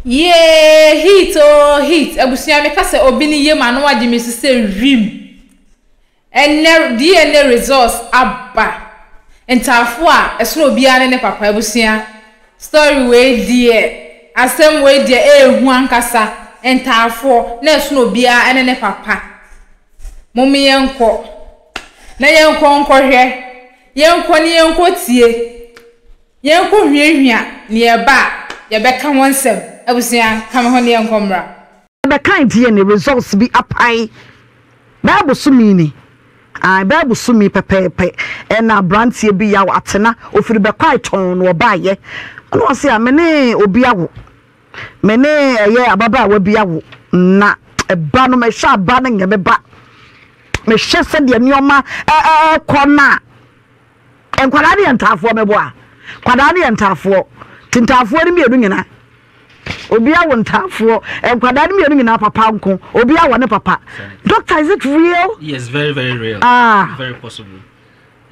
Yee heat oo heat abusua me ka sɛ obi ne yam ano agye me so sɛ wim ɛnɛ DNA results aba ntaafo a ɛsoro obiara ne ne papa abusua story wei deɛ asɛm wei deɛ ɛɛhu ankasa ntaafoɔ na ɛsono obiara ɛne ne papa mo me yɛnkɔ na yɛnkɔ nkɔhwɛ yɛnkɔ ne yɛnkɔ tie. Yɛnkohwiahwia nea ɛba a, yɛbɛka ho nsɛm. Abusua, ka me ho na yɛnkɔ mmra. Yɛbɛkan DNA results bi apae Bible so meaning, ae, Bible so meaning pɛpɛɛpɛ. Ɛna abranteɛ bi yaw atena, ofiri Bɛkwae tɔnn na ɔbaeɛ. Ɛna ɔse a, me ne obi awo, me ne ɛyɛ ababaawa bi awo, na ɛba no, mɛhwɛ a ba no nyɛ me ba. Mehwɛ sɛdeɛ nneɛma ɛɛkɔ no a. Nkwadaa no yɛ ntaafoɔ mɛboa. Kwadaa no yɛ ntaafoɔ ti ntaafoɔ no mmienu nyina obia wɔ ntaafoɔ nkwadaa no mmienu nyina papa nko obia wɔ ne papa doctor is it real yes very very real ah very possible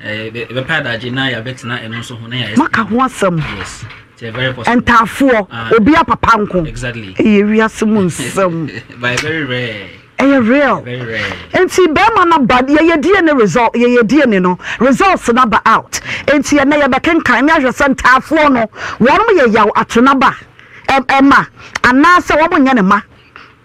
ɛbɛpɛ eh, adagye na yɛabɛtena ɛno nso ho na yɛayɛ maka ho asɛm yes Ntaafoɔ, obia papa nko. Ɛyɛ wiase mu nsɛm. Ɛyɛ real. Nti bɛɛma no aba, yɛyɛ DNA result, yɛyɛ DNA no, results no aba out. Nti ɛnɛ yɛbɛkenkan ne ahwɛ sɛ ntaafoɔ no, wɔnom yɛ yaw ato naba ɛma, anaasɛ wɔmonyɛ ne ma.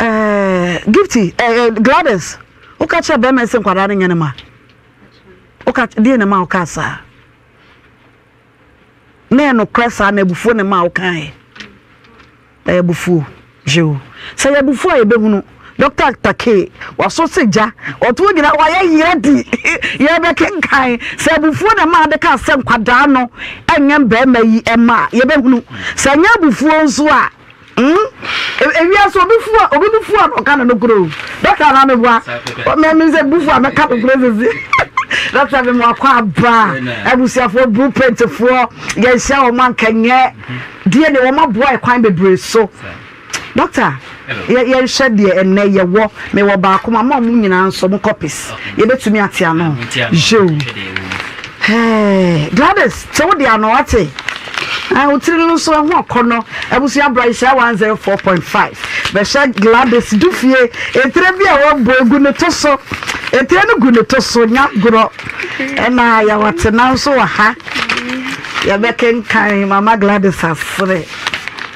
Eh, Gifty, eh, eh, Gladys, woka kyerɛ bɛrima sɛ nkwadaa no nyɛ ne ma. Woka deɛ ne ma woka saa. Na yɛ nokorɛ saa na abufuo ne ma wokaeɛ. Ɛyɛ abufuo, Jew. Sɛ yɛ abufuo a yɛbɛhunu. Dɔkta Takei, waso sɛ gya, ɔto gyina hɔ a yɛyera di. Yɛbɛkenkan sɛ abufuo na ɛma ade kaa sɛ nkwadaa no nyɛ mmarima yi mma a, yɛbɛhunu sɛ nyɛ abufuo nso a, mm, ewia so obi fua, obi bu fua na ɔka no nokoro. Dɔkta na meboa, mɛmi sɛ bu fua mɛka nokoro sisi. Dɔkta mɛmi wakɔ aba, abusuafoɔ, blueprintfoɔ, yɛnhyia wɔn anka nyɛ, deɛ ne wɔn aboa ɛkwan bebree so. Doctor yɛ yɛ nhwɛ deɛ ɛnɛ yɛ wɔ me wɔ baako ma mo a mo nyinaa nso mo copies yɛ bɛ tumi ate ano yoo hɛɛ Gladys te wo deɛ ano wate ɛɛ wo tiri no nso ɛho akɔnɔ abusua bra nhyira 104.5 bɛhyɛ Gladys du fie etire bi a wɔbɔ egu ne to so etire no gu ne to so nya gorɔ ɛna yɛ wate nanso wɔ ha yɛ bɛ kenkan mama Gladys asere.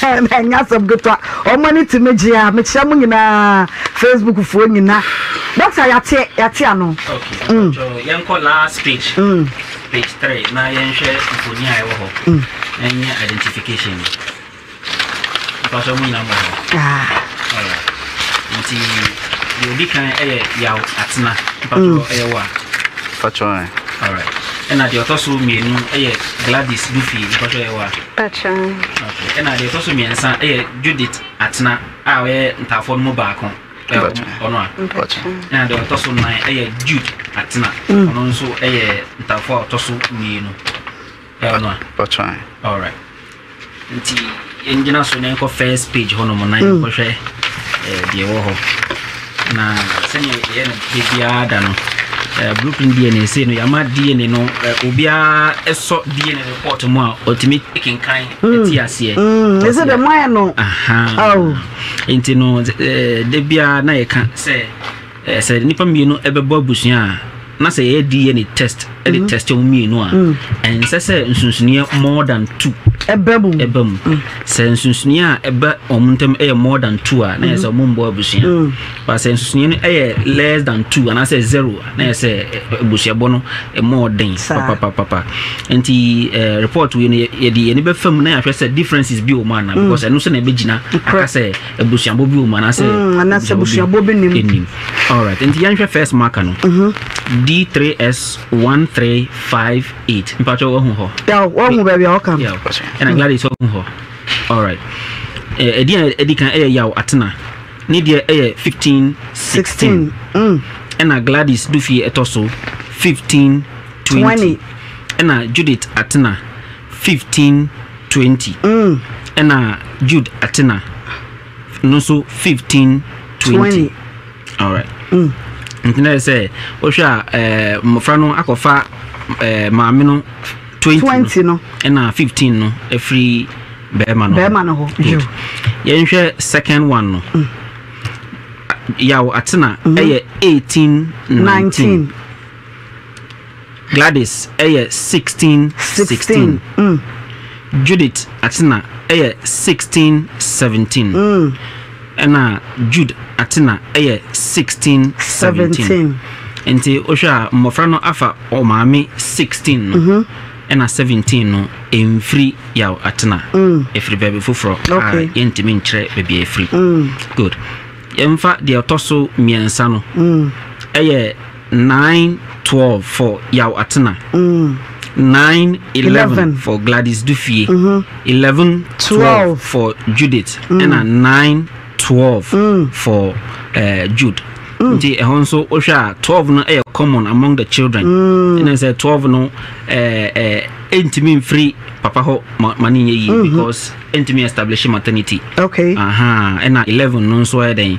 Ɛnyɛ asɛm ketewa. Wɔn ani tumi gye a mekyerɛ mo nyinaa Facebook foɔ nyina. Doctor yɛate yɛate ano. Okay. Mm. Yɛnkɔ last page. Mm. Page three na yɛnhwɛ mfoni a ɛwɔ hɔ. Mm. Na yɛnyɛ identification. Mpasɔ mo nyinaa mo hɔ. Ah. Alright. Nti deɛ odi kan ɛyɛ yaw atena. Mpasɔ mm. ɛyɛ wa. Mpasɔ. Alright. Ɛna deɛ ɔtɔ so mmienu ɛyɛ Gladys Dufi. Mpasɔ ɛyɛ wa. Okay, ɛna deɛ ɛtɔ so mmiɛnsa yɛ Judith Atena a ɔyɛ ntaafoɔ no mu baako ɔno a ɛna deɛ ɔtɔ so nnan yɛ Jude Atena mm. ɔno nso yɛ ntaafoɔ a ɔtɔ so mmienu ɔno a alright nti yɛngyina so na yɛnkɔ first page hɔnom na yɛnkɔhwɛ deɛ ɛwɔ hɔ Na sɛnea yɛyɛ no da biara da no, eh, blueprint DNA sei no yɛama DNA no eh, obiara sɔ DNA report mu a ɔtumi kenkan mm. ti aseɛ. Mm, ɛsɛ dɛ mo ayɛ no. Oh. Nti no eh, da biara na yɛka sɛ eh, sɛ nnipa mmienu bɛbɔ abusua a na sɛ yɛyɛ DNA test de mm. test wɔn mmienu a mm. ɛnsɛ sɛ nsonsonoeɛ more than two ɛba mu ɛba mu mm. sɛ nsonsonoeɛ a ɛba wɔn ntam yɛ more than two a na yɛ sɛ wɔn mbɔ abusua ba sɛ nsonsonoeɛ no yɛ less than two anaasɛ zero na yɛ sɛ abusuabɔ no ɛmɔ ɔden papapapa nti report wei no yɛde yɛn bɛfa mu na yɛahwɛ sɛ differences bi wɔ mu ana because ɛno nso na ɛbɛgyina aka sɛ abusuabɔ bi wɔ mu anaasɛ mm, anaasɛ abusuabɔ bi nim nim alright nti yɛnhwɛ first marker no mhm. d3s1358 mpakyɛ wahu hɔ wahu baabi a wɔka no ɛna gladys wahu hɔ alright ɛdi a ɛdi kan ɛyɛ yaw atena ne deɛ ɛyɛ 15 16 ɛna gladys dufie ɛtɔ so 15 20 ɛna judith atena 15 twenty, ɛna Jude Atena no nso fifteen twenty alright mm. nti na yɛ sɛ wohwɛ a eh, mmɔfra no akɔfa eh, maame no twenty no ɛna fifteen no afiri bɛrima no bɛrima no hɔ good yɛnhwɛ second one no mm. yaw atena mm-hmm. ɛyɛ eighteen nineteen. Gladys yɛ sixteen sixteen Judith Atena yɛ sixteen seventeen ɛna Jude Atena yɛ sixteen seventeen nti wohwɛ a mmɔfra no afa ɔmaame sixteen no mhm. ɛna seventeen no ɛmfiri yaw Atena ɛfiri mm. baabi foforɔ a yɛntumi nkyerɛ baabi a ɛfiri mm. good yɛmfa deɛ ɔtɔ so mmiɛnsa no mm. ɛyɛ Nine twelve for Yaw Atena, nine eleven for Gladys Dufie, eleven twelve for Judith, ɛna nine twelve for Jude. Nti ɛhɔ nso wohwɛ a twelve no yɛ common among the children. Ɛna sɛ twelve no ɛntumi mfiri papa hɔ ma ne nyɛ yie because ɛntumi establish maternity. Okay. Aha ɛna eleven no nso yɛ dɛn?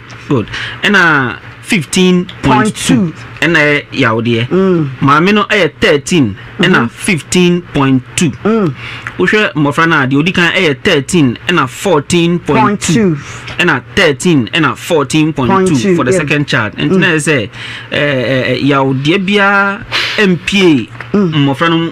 Good. Ɛna fifteen point two ɛna yɛ yawdeɛ. Mm. Maame no ɛyɛ thirteen ɛna mm-hmm. fifteen point two. Mm. Wohwɛ mmɔfra no a deɛ odi kan ɛyɛ thirteen ɛna fourteen point two ɛna thirteen ɛna fourteen point two for the second child. Nti na yɛ sɛ ɛɛ yawdeɛ biara mpie mmɔfra no mu.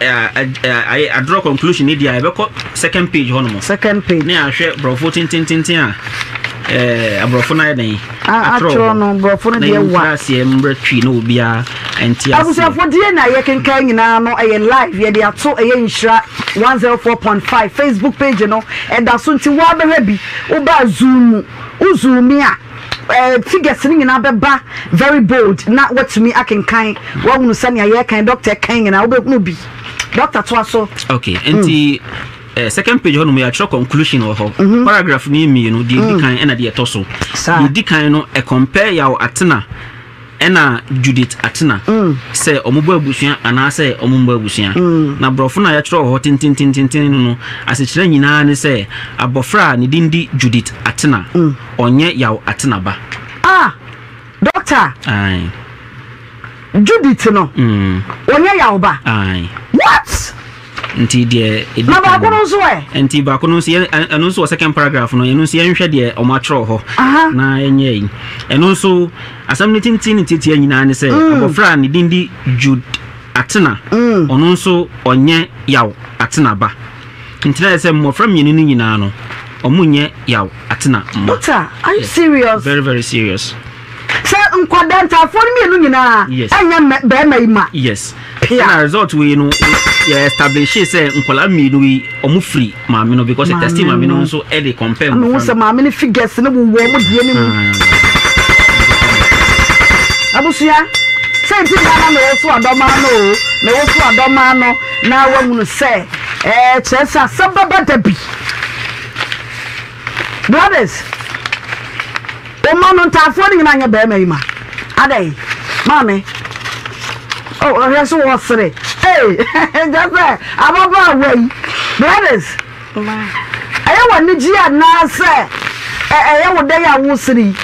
ayɛ a draw conclusion ni di a yɛbɛkɔ second page hɔ nom second page ne ahwɛ borɔfo tentententen a ɛɛ aborɔfo no ayɛ dɛn atwerɛ no borɔfo no deɛ wa na aseɛ mmerɛ twi na obiara ɛnti aseɛ abusuafo deɛ na yɛ kenkan nyinaa no ɛyɛ live yɛde ato ɛyɛ nhyira 104.5 facebook page no ɛda so nti wa bɛhwɛ bi wobaa zoom mu wo zoom a Figures no nyinaa bɛba very bold na watumi akenkan wahunu sɛnea yɛkan doctor ɛkan nyinaa wobɛhunu bi doctor toa so. okay hmm. nti eh, second page hɔnom yɛatwerɛ conclusion wɔ hɔ mhm. paragraph no mmienu deɛ ɛdi hmm. kan ɛna deɛ ɛtɔ so deɛ ɛdi kan no ɛcompare yaw atena Ɛna Judith Atena sɛ wɔbɔ abusua anaasɛ wɔmmɔ abusua. Na Borɔfo no a wɔakyerɛw wɔ hɔ tentententeenten no no asekyerɛ nyinaa ne sɛ abɔfra a ne din de Judith Atena, ɔnyɛ Yaw Atena ba. Ah! Dɔkta, Ae. Judith no, ɔnyɛ Yaw ba? Ae. What? Nti deɛ ɛdi kan. Na baako no nso ɛ? Nti baako no nso yɛ ɛno nso wɔ second paragraph no ɛno nso yɛnhwɛ deɛ wɔn atwerɛ hɔ. Na ɛnyɛ yi. Ɛno nso asɛm no tenten ne tiatia nyinaa ne sɛ mm. abɔfra a ne din di Jude Atena mm. ɔno nso ɔnyɛ yaw Atena ba. Nti na yɛ sɛ mmɔfra mmienu no nyinaa no wɔn nyɛ yaw Atena mma. Doctor, are you serious? Very very serious. Sɛ nkwadaa ntaafoɔ no mmienu nyinaa Yes. ɛnyɛ mmɛ- bɛrima yi ma yes pia ɛna result wei no yɛ establish sɛ nkwadaa mmienu yi wɔn firi maame no because Maame testi maame no no. nso ɛde compare ama hu mmɔfra sɛ no maame no figures no wowɔ mo deɛ no mu Ah, abusua sɛ nti na na mewo so adɔma no o mewo so adɔma no na wahunu sɛ ɛɛ kyerɛ sɛ asɛm bɛba da bi brothers Oma no ntaafoɔ no nyinaa nyɛ barima yi ma adɛn maame oh ɔhwɛ so wɔ sere hey nkyɛ sɛ ababa awa yi Gladys ɛyɛ wɔ anigye a naa sɛ ɛyɛ wo dɛn a wo sere yi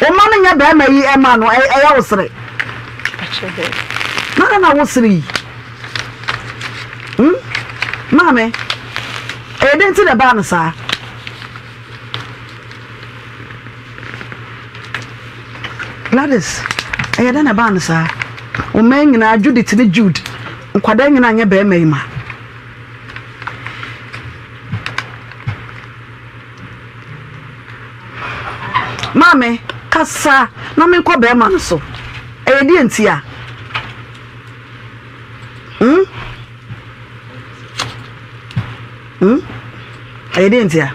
oma no nyɛ barima yi ɛma no ɛyɛ wo sere na na wo sere yi hmm maame ɛyɛ dɛn ti na ɛbaa no saa. Gladys, ɛyɛ dɛn na ɛbaa no saa? Wo mma nyinaa, Judith ne Jude, nkwadaa nyinaa nyɛ barima yi ma. Maame, kasa na menkɔ barima no so. Ɛyɛ deɛ nti a? Hmm? Hmm? Ɛyɛ deɛ ntia?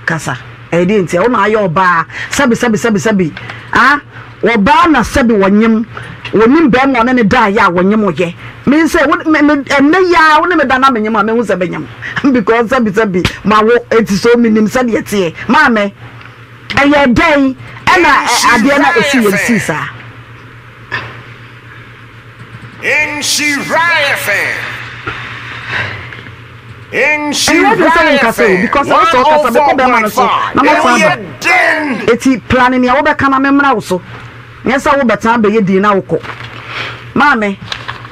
Kasa. Ɛyɛ deɛ ntia? Wo na ayɛ ɔbaa. Sɛbi sɛbi sɛbi sɛbi. Ah? Ɔbaa na sɛbi wɔnyem. Wɔnim bɛrima ɔne ne daeɛ a wɔnyem wo yɛ. Me nso ɛ, wo, me, me, ɛnɛ yi ara wo ne me da na menyem a mɛhu sɛ menyem. Because sɛbi sɛbi mawo eti so menim sɛdeɛ ɛteɛ. Maame, ɛyɛ dɛn ɛna ɛ, adeɛ no a ɛsii yɛ no sii saa? Ɛnyɛ den sɛ wonkasa o because wo sɛ ɔkasa mekɔ bɛrima no so na mɛsan aba eti plane nea wobɛka na memmra wo so nyɛ sɛ wobɛtan bɛyɛ din na wokɔ maame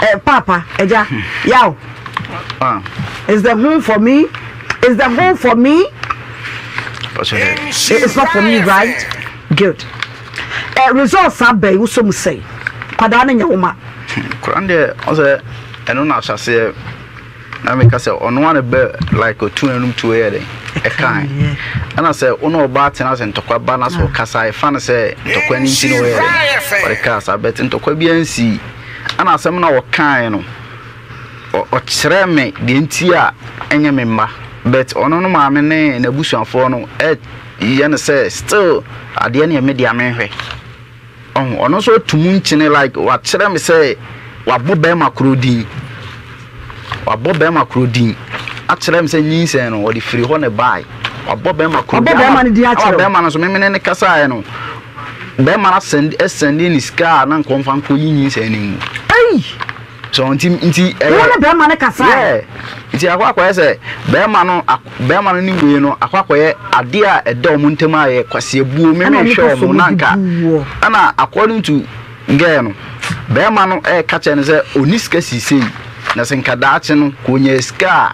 eh, papa agya yaw ah. is the home for me is the home for me it's not for me right good Eh results abɛn wosɔ mu sɛn kwadaa no nyɛ woma. Hmm kwadaa no deɛ ɔsɛ ɛno na ahyɛseɛ na meka sɛ ɔno ara bɛ like otu anum tu yɛ dɛ ɛkan ɛna sɛ wo na ɔbaa tena sɛ ntɔkwa ba na sɛ ɔkasa ɛfa no sɛ ntɔkwa no nti na ɔyɛ dɛ ɔde kaa saa bɛte ntɔkwa biara nsi ɛna asɛm na ɔkae no ɔkyerɛ me deɛ nti a ɛnyɛ me mma but ɔno no maame ne n'abusuafoɔ no yɛ no sɛ still adeɛ neɛ me dea menhwɛ ɔho ɔno nso atu mu nkyene like wakyerɛ me sɛ wabɔ bɛrima koro din wabɔ bɛrima koro din akyerɛ me sɛ nyinsɛn no ɔde firi hɔ ne bae wabɔ bɛrima koro din ama bɛrima no nso memene ne kasaeɛ no bɛrima no asɛnde ne sika a na nkɔmfa nkɔyi nyinsɛn no mu So nti nti ɛyɛ. Wo ne bɛrima no kasae. Yeah nti akɔ akɔyɛ sɛ bɛrima no bɛrima no ne wei no akɔ akɔyɛ adeɛ a ɛda wɔn ntam a yɛ kwaseɛbuo meme hwɛ wɔn na nka ɛna according to girl no bɛrima no ɛka kyɛ no sɛ ɔni sika sisei na sɛ nka daakye no kò nya sika a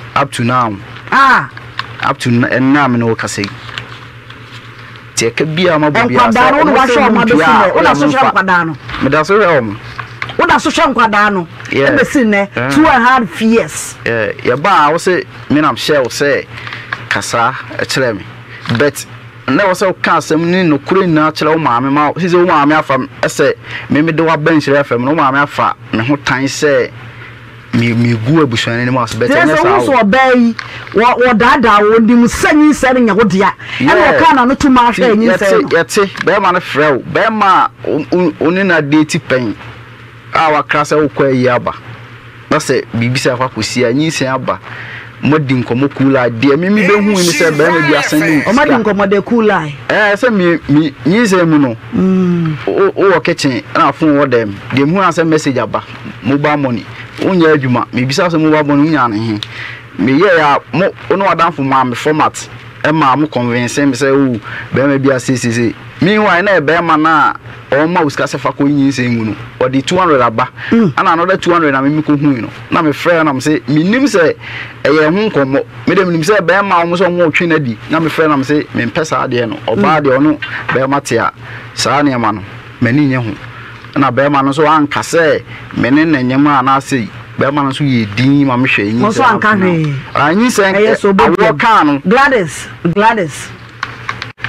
Up to now ah up to na ɛnna a me ne wo kasa yi te ɛka biara ma bɔ biara sɛ ɔmo sɛ ɔmo ntua a woda so hwɛ nkwadaa no meda so hwɛ ɔmo woda so hwɛ nkwadaa no ɛbɛsi nnɛ two and half years yɛba a wo se me nam hyɛ wo sɛ kasa ɛkyerɛ me but na ɛwɔ sɛ woka asɛm ne nokorɛ nyinaa kyerɛ wo maame ma sisi wo maame afa ɛsɛ me mede waba nhyira fam no wo maame afa me ho tan sɛ megu abusua no anim ase bɛtɛ nyɛ saa o. sɛ ɔbaa yi wɔdaadaa wɔ nim sɛ nyinsɛn no nyɛ wo dea ɛna ɔkaa na no to maa hwɛ nyinsɛn no. yɛte bɛrima no frɛ wo bɛrima a ɔne na deeti pɛn a wakra sɛ wokɔ ayi aba na sɛ biribi sɛ akɔ akɔsi a nyinsɛn aba Moadi nkɔmmɔ cool eye deɛ me me bɛ hui ne sɛ barima bi asan ne wo sika. Ɔma di nkɔmmɔ dɛ cool eye. Ɛɛ sɛ me me nyinsɛn mu no wo wo wɔ kitchen ɛna phone wɔ dɛm deɛ me hu ara sɛ message aba mobile money wo nyɛ adwuma me bisa wo sɛ mobile money wo nyaa no he me yɛɛ a mo wo ne w'adanfo maa me format ɛmaa mo convince me sɛ oo barima bi asei sei sei meanwhile na ɛyɛ barima no a Wɔn ma wo sika sɛ fa kɔ nyinsɛn mu no, ɔde two hundred aba. Ɛna mm. another two hundred na me mekɔ hui no. Na me frɛ na me se menim sɛ ɛyɛ ɛho nkɔmmɔ. Me de menim sɛ bɛrima wɔn sɛ wɔn ɔtwe no adi. Na me frɛ na me se mempɛ saa adeɛ no. Ɔbaa mm. deɛ ɔno bɛrima te a saa nneɛma no m'ani nye ho. Ɛna bɛrima no nso anka sɛ me ne ne nyem a na ase bɛrima no nso yɛ din ma me hwɛ nyinsɛn. Wɔn nso anka hwee. Nyinsɛn ɛyɛ so bɔ awoɔ kaa no. Gladys Gladys.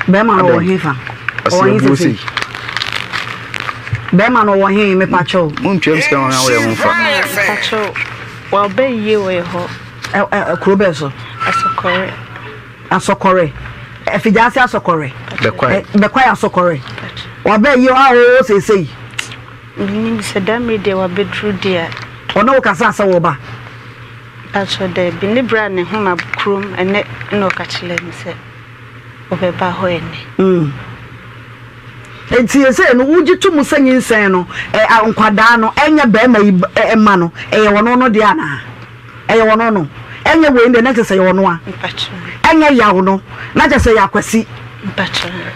bɛrima no wɔ he fa ɔwɔ he sese bɛrima no wɔ he mepa kyɛw montwam sika wɔn awɔ yɛ ho fa wɔbɛ yie wɔ yɛ hɔ kuro bɛɛ so asɔkɔre asɔkɔre afigya ase asɔkɔre bɛkwa yɛ asɔkɔre wɔbɛ yie wɔ ahɔhɔ sese yi menim sɛ da mmiri deɛ wɔbɛduru deɛ ɔne wo kasa sɛ wɔba Mpakyɛw dabi, ne bra ne hom ab kurom ɛnɛ na ɔka kyerɛ me sɛ ɔbɛba hɔ ɛnɛ. Mm. Enti sesei no wogye to mu sɛ nyinsɛn no, ɛ, a, nkwadaa no, ɛnyɛ barima yi ba, ɛ, mma no, ɛyɛ ɔno no deɛ anaa? Ɛyɛ ɔno no. Ɛnyɛ wei no deɛ na kyerɛ sɛ ɛyɛ ɔno a. Mpakyɛw. Ɛnyɛ yaw no, na kyerɛ sɛ ɛyɛ Akwasi.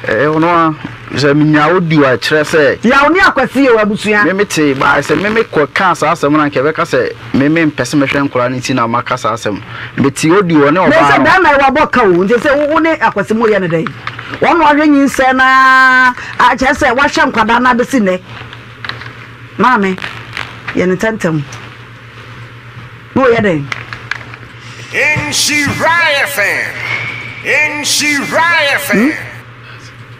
Ɛyɛ ɔno a sɛ menya audio a ɛkyerɛ sɛ. Yaw ne akwasi yɛ w'abusua. Me me tee baa sɛ me me kɔ kaa saa asɛm no anka ɛbɛka sɛ me me mpɛ sɛ mɛhwɛ nkwadaa no ti na maka saa asɛm no me tee audio ɔne ɔbaa no. Mese bɛrima yi wabɔ ka o nti sɛ wo ne akwasi mo yɛ ne dɛn wɔn na wahwɛ nyinsɛn na akyɛ sɛ wahwɛ nkwadaa no abɛsi nnɛ maame yɛ ne tɛntɛm. Woyɛ dɛn? Nhyira yɛ fɛ. Nhyira yɛ fɛ. Hmm?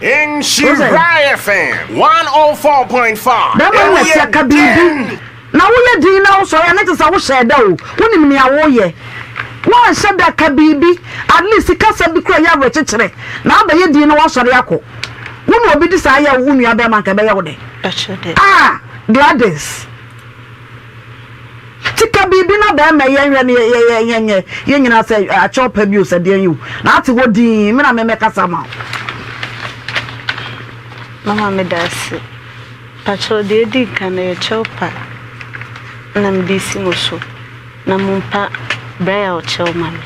Nhyira yɛ fɛ. 104.5. Bɛrima no na ɛsɛ aka biribi. Na woyɛ din na wosɔre a na kyerɛ sɛ wohyɛɛ da o. Wonim nea woyɛ. Woanhyɛ da ka biribi. At least kasa bi kura yɛ awerɛkyekyerɛ. Na abɛyɛ din na woasɔre akɔ. Wo na obi de saa yɛ wo nua bɛrima nka ɛbɛyɛ wo dɛ. Ah, Gladys. Ate ka biribi na bɛɛma yɛn hwɛ no yɛ yɛ yɛ nyɛ yɛn nyinaa sɛ akyɛ ɔpɛ bio sɛ deɛn yi o na ate hɔ dinn me na me mɛ kasa ma wo. Mama me da ase. Pakyɛw deɛ edi nkan no yɛ kyɛw pa na me de si mo so na mo mpa braille kyɛw ma me.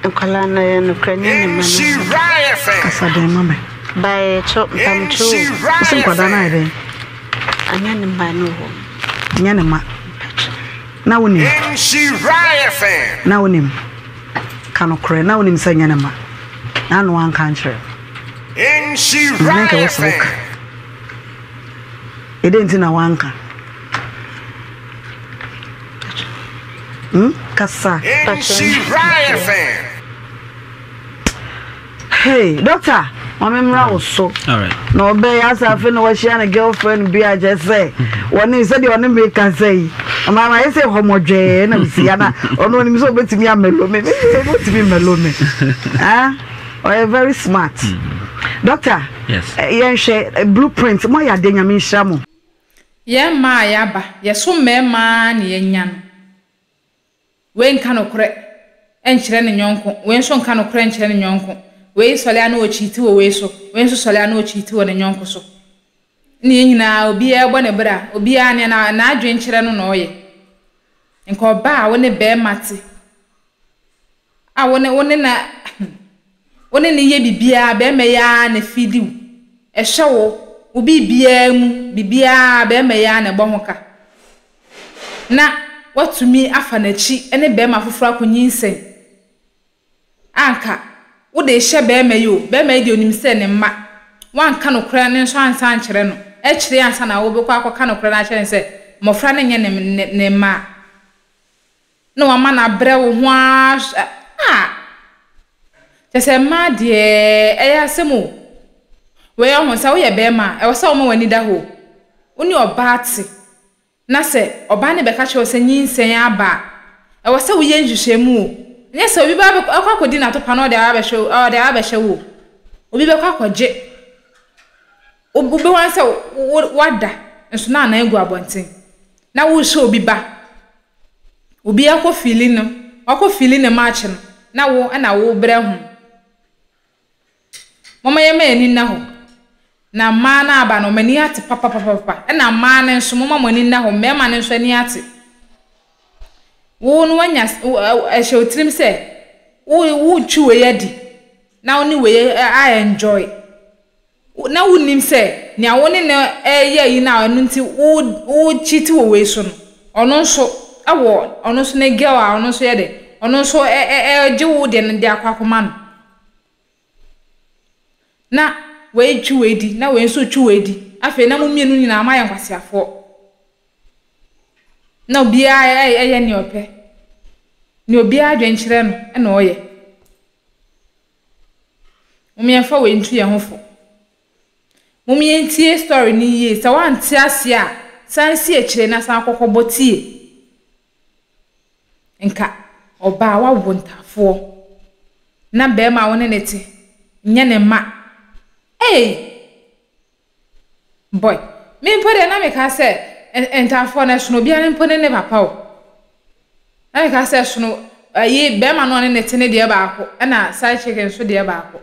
Nkwadaa no yɛ nokorɛni ne mma no so. Kasa dɛn ma me. Bae kyɛw mpamkyɛ o. Ɔsɛ nkwadaa no ayɛ dɛn. Anyɛ ne mma no o. Nyɛ ne mma. Na wonim. Na wonim. Ka nokorɛ na wonim sɛ nyɛ ne mma. Na ano anka nkyerɛ. Nhyira yɛ fɛ. Ɛdɛn nti na wanka. Kasa. Hey, doctor, mami mmra wo so. Na ɔbɛ ya sa afi na wɔahyia ne girlfriend bi a kyɛ sɛ wɔne sɛ deɛ ɔne mi kasa yi. Ama ma yɛ sɛ hɔmɔdwɛɛ na msi ya na ɔno onim sɛ ɔbɛtumi amelo me. Me sɛ ɔbɛtumi melo me. Ah, ɔyɛ very smart. Doctor, yɛnhwɛ blueprint mo ayɛ adeɛ nyame nhyira mo. Yɛn mmaa a yɛaba, yɛso mmarima ara na yɛanya no. Wei nka nokorɛ nkyerɛ ne yɔnko, wei nso nka nokorɛ nkyerɛ ne yɔnko. Wei sɔre a na ɔrekyiiti wɔ wei so, wei nso sɔre a na ɔrekyiiti wɔ ne yɔnko so. Ɛnna yɛn nyinaa, obiara bɔ ne bra, obiara nea na n'adwene kyerɛ no na ɔyɛ. Nka ɔbaa a wo ne barima te. a wo ne wo ne no wo ne no yɛ biribiara, barima yi ara na ɛfiidi wo, ɛhwɛ wo, wo biribiara mu, biribiara barima yi ara na ɛbɔ ho ka, na woatumi afa n'akyi ne barima foforɔ akɔnyinsɛn a, anka wode rehyɛ barima yi o, barima yi deɛ ɔnim sɛ ne mma, woanka nokorɛ no nso ansa ankyerɛ no, akyire yi ansa na wobɛkɔ akɔka nokorɛ no akyerɛ no sɛ mmɔfra no nyɛ ne mma a. Na wama no abrɛ wo ho ara hwɛ ah. Kyerɛ sɛ mmaa deɛ ɛyɛ asɛm o. Wei ɔho sɛ woyɛ barima a ɛwɔ sɛ woma w'ani da hɔ. Wo ne ɔbaa te na sɛ ɔbaa no bɛka kyerɛ wo sɛ nyinsɛn aba a ɛwɔ sɛ woyɛ nhwehwɛmu o. Ɛnyɛ sɛ obi bɛba akɔ akɔdi n'atopa na ɔde abɛhwɛ wo ɔde abɛhyɛ wo o. Obi bɛkɔ akɔgye wobɛhu ara sɛ woada nso na anan gu abɔnten na worehyɛ obi ba. Obi akɔ fili no, wakɔ fili ne match no na wo na wobrɛ ho. Momma yɛmma yɛn ani nna hɔ na mmaa no aba no wɔn ani ate papapapapa. Ɛna mmaa no nso momma mo ani nna hɔ, mmarima no nso ani ate. Wo no wanya ɛhyɛ wo tirim sɛ wo wotwi wei adi na wo ne wei a enjoy. Wo, na wunnim sɛ nea wo ne no reyɛ yi na ɛno nti wo, wo cheat wɔ wei so no, ɔno nso wɔ, ɔno nso ne girl a ɔno nso yɛ dɛ, ɔno nso ɛ, ɛ, ɛ, gye wo deɛ no de akɔ akɔma no. Na wei twi wei di, na wei nso twi wei di. Afei na mo mmienu nyinaa moayɛ nkwaseafoɔ. Na obiara ɛ, ɛyɛ nea ɔpɛ. Nea obiara adwene kyerɛ no na ɔyɛ. Mom yɛnfa wei nto yɛn ho fo. Mom yɛntie story no yie. Sɛ woante aseɛ a, san si akyire na san kɔkɔbɔ tie. Nka ɔbaa a wawo ntafoɔ na barima a wo ne no te nyɛ ne mma. Ei! Boy, me mpo deɛ na meka sɛ ntafoɔ no ɛsono obiara mpo ne ne papa o. Na meka sɛ ɛsono ayi bɛrima no ɔne ne te ne deɛ baako ɛna side chick nso deɛ baako.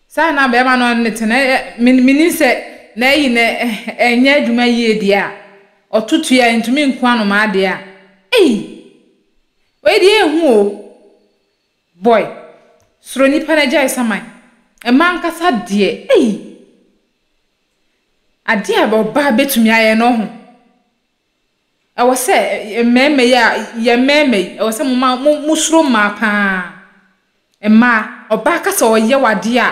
Saa na bɛrima no ɔne ne te na menim sɛ na ayi na ɛnyɛ adwuma yie deɛ a ɔto tua a ntumi nku anomaa deɛ a ei wei deɛ ehu o. Boy, soro nipa na gyae saman. Mmaa ankasa deɛ ei! Adeɛ a ɔbaa bɛtumi ayɛ no ho. Ɛwɔ sɛ mmarima yi a, yɛn mmarima yi, ɛwɔ sɛ mo ma mo mo soro mmaa paa. Mmaa, ɔbaa ka sɛ ɔyɛ wo adeɛ a,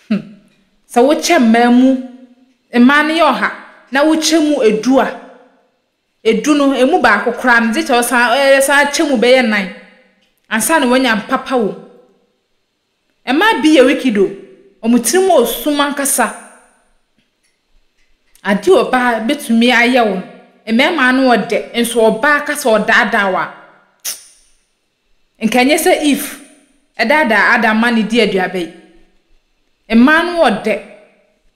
hmm, sɛ wokyɛ mmaa mu, mmaa no yɛ ɔha, na wokyɛ mu du a, du no, emu baako koraa no, gye sɛ ɔsan ɛ ɛsan akyɛ mu bɛyɛ nnan ansa na wanya mpapa wom. Mmaa bi yɛ wicked o, wɔn tiri mu wɔ sum ankasa. Adeɛ a ɔbaa bɛtumi ayɛ wo no, mmarima ano yɛ dɛ, nso ɔbaa ka sɛ ɔdaadaa wo a, Nka ɛnyɛ sɛ Eve daadaa Adam ma no dii aduaba yi. Mmaa no wɔ dɛ.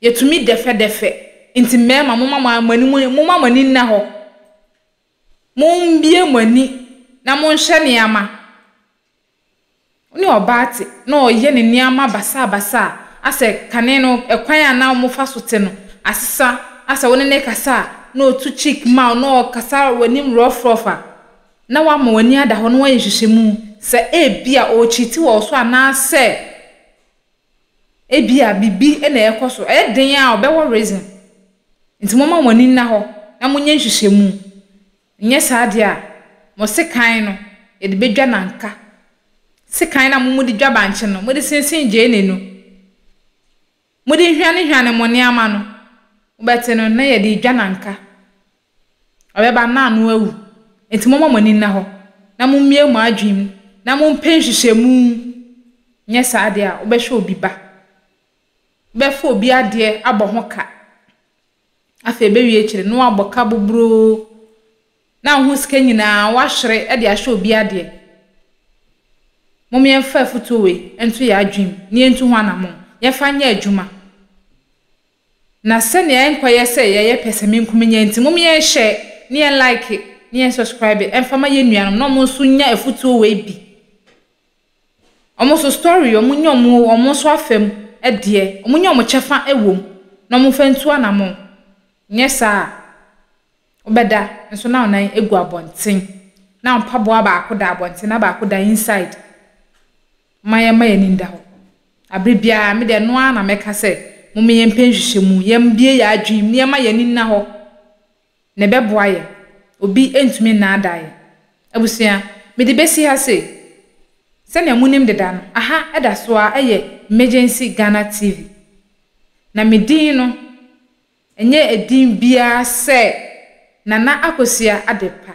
Yɛtumi dɛfɛdɛfɛ. Enti mmarima, momma mo ani mu, momma mo ani nna hɔ. Mommue mo ani na monhwɛ nneɛma. Wo ne ɔbaa te na ɔyɛ ne nneɛma basabasa a, asɛ kane no, kwan a na wɔfa so te no, asesa, asɛ wo ne no rekasa a, na ɔtu cheek ma wo, na ɔkasa w'anim rough rough a, na wama w'ani ada hɔ na woayɛ nhwehwɛmu sɛ ebia ɔrekyiti wɔ wo so anaasɛ ebia biribi na ɛrekɔ so, ɛyɛ den ara a, ɔbɛwɔ reason. Nti momma mo ani nna hɔ na monyɛ nhwehwɛmu. Anyɛ saa deɛ a, mo sekan no, yɛde bɛdwa nanka. Sekan no a mo mode dwa bankye no, mode sensen gyeene no. Mode nhwanehwane mo nneɛma no. Mobɛte no na yɛde adwa no anka. Ɔbɛba na ano awu. Enti momma mo ani nna hɔ, na mummue mo adwene mu, na mompɛ nhwehwɛmu, nyɛ saa deɛ a, wobɛhwɛ obi ba. Wobɛfa obi adeɛ abɔ ho ka. Afei ebewie akyiri no, na wabɔ ka boboroo, na wo ho sika nyinaa woahwere de ahyɛ obi adeɛ. Mom yɛmfa afutuo wei nto yɛn adwene mu na yɛntu ho anammɔn. Yɛmfa nyɛ adwuma. Na sɛnea ɛnkɔyɛ sɛ yɛyɛ pɛsɛmenkominya nti, mom yɛnhyɛ na yɛn like na yɛn subscribe mfa ma yɛn nuanom na wɔn nso nya afutuo wei bi. Ɔmo so story yi, ɔmo nya ɔmo ɔmo nso afa mu deɛ, ɔmo nya ɔmo kyɛfa wɔ mu na ɔmo nfa ntu anamɔn. Nyɛ saa a, wobɛda nso na wo nan egu abɔnten, na wo mpaboa baako da abɔnten na baako da inside. Momma yɛmma yɛn ani nda hɔ. Abere biara, me deɛ ɛno ara na mɛka sɛ, momma yɛmpɛ nhwehwɛmu, yɛmmue yɛn adwene mu na yɛmma yɛn ani nna hɔ. na ɛbɛboa yɛn. Obi ntumi nnaadaa yɛn. Abusua, mede besi ha sei, sɛnea munim deda no, aha da so ara yɛ Emergency Ghana TV, na me din no nyɛ edin biara sɛ Nana Akosua Adepa.